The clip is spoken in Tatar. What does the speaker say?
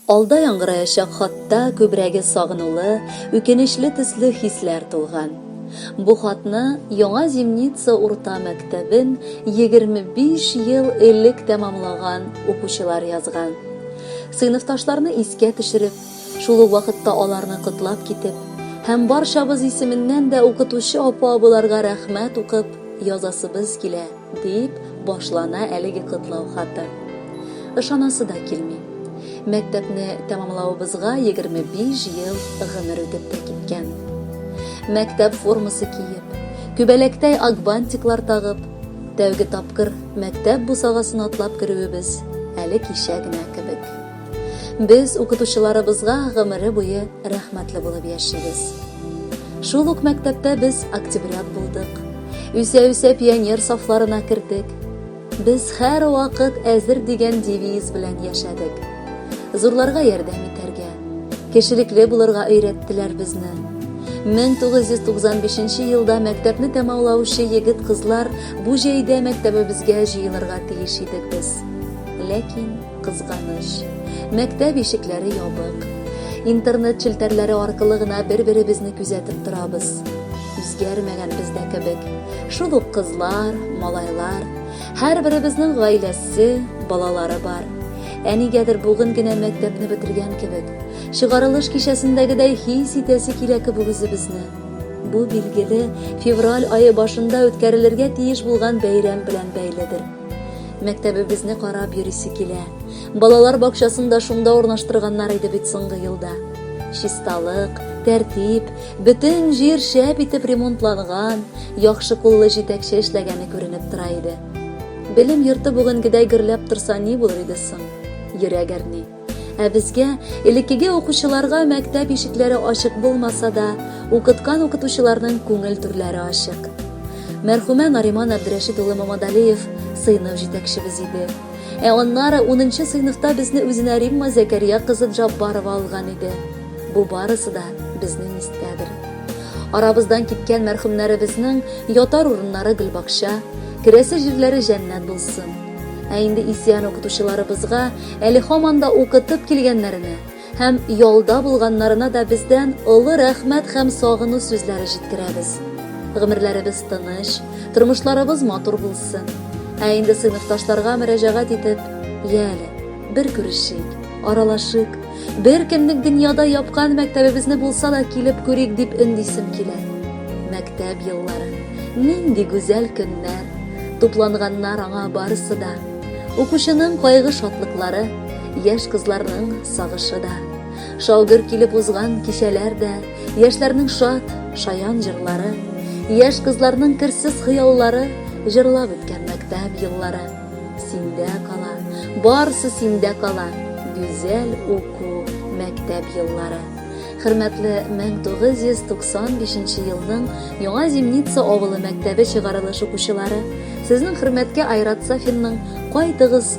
Алда яңгыраячак хатта күбрәге сагынулы, үкенечле төсле хисләр тулган. Бу хатны Яңа Зимница урта мәктәбен 25 ел элек тәмамлаган укучылар язган. Сыйныфташларны искә төшереп, шул ук вакытта аларны котлап китеп һәм барчабыз исеменнән дә укытучы апа-абыларга рәхмәт укып язасыбыз килә, дип башлана әлеге котлау хаты. Ышанасы да килми. Мәктәпне тәмамлавыбызга 25 ел гомер үтеп тә киткән. Мәктәп формасы киеп, күбәләктәй акбантиклар тагып, Тәүге тапкыр мәктәп бусагасын атлап керүебез әле кичә генә кебек. Без укытучыларыбызга гомере буе рәхмәтле булып яшибез. Шул ук мәктәптә без октябрят булдык. Үсә-үсә пионер сафларына кердек. Без һәрвакыт әзер дигән девиз белән яшәдек. Зурларга ярдәм итәргә, кешелекле булырга өйрәттеләр безне. 1995 елда мәктәпне тәмамлаучы егет-кызлар бу җәйдә мәктәбебезгә җыелырга тиеш идек без. Ләкин, кызганыч, мәктәп ишекләре ябык. Интернет челтәрләре аркылы гына бер-беребезне күзәтеп торабыз. Үзгәрмәгән бездә кебек. Шул ук кызлар, малайлар, Һәрберебезнең гаиләсе, балалары бар. Ә нигәдер бүген генә мәктәпне бетергән кебек, чыгарылыш кичәсендәгедәй хис итәсе килә кебек үзебезне. Бу, билгеле, февраль ае башында үткәрелергә тиеш булган бәйрәм белән бәйледер. Мәктәбебезне карап йөрисе килә. Балалар бакчасын да шунда урнаштырганнар иде бит соңгы елда. Чисталык, тәртип, Бөтен җир шәп итеп ремонтланган, яхшы куллы җитәкче эшләгәне күренеп тора иде. Белем йорты бүгенгедәй гөрләп торса ни булыр иде соң? Йөрәк әрни. Ә безгә, элеккеге укучыларга мәктәп ишекләре ачык булмаса да, укыткан укытучыларның күңел түрләре ачык. Мәрхүмә Нариман Әбдрәшит улы Мамадалиев сыйныф җитәкчебез иде. Ә аннары унынчы сыйныфта безне үзенә Римма Зәкәрия кызы Джаббарова алган иде. Бу барысы да безнең истәдер. Арабыздан киткән мәрхүмнәребезнең ятар урыннары гөлбакча, керәсе җирләре җәннәт булсын. Ә инде исән укытучыларыбызга әле һаман да укытып килгәннәренә, Һәм ялда булганнарына да бездән олы рәхмәт һәм сагыну сүзләре җиткерәбез. Гомерләребез тыныч, тормышларыбыз матур булсын. Ә инде сыйныфташларга мөрәҗәгать итеп, я әле, бер күрешик, аралашыйк, бер кемнең дөньяда япкан мәктәбебезне булса да килеп күрик дип өндисем килә. Мәктәп еллары, нинди гүзәл көннәр, тупланганнар аңа барысы да. Укучының кайгы-шатлыклары, Яшь кызларның сагышы да, шалгыр килеп узган кичәләр дә, яшьләрнең шат, шаян җырлары, яшь кызларның керсез хыяллары, җырлап үткән мәктәп еллары. Синдә кала, барсы синдә кала, гүзәл уку, мәктәп еллары. Хөрмәтле 1995 елның Яңа Зимница авылы мәктәбе чыгарылыш укучылары, сезнең хөрмәткә Айрат Сафинның Кайтыгыз,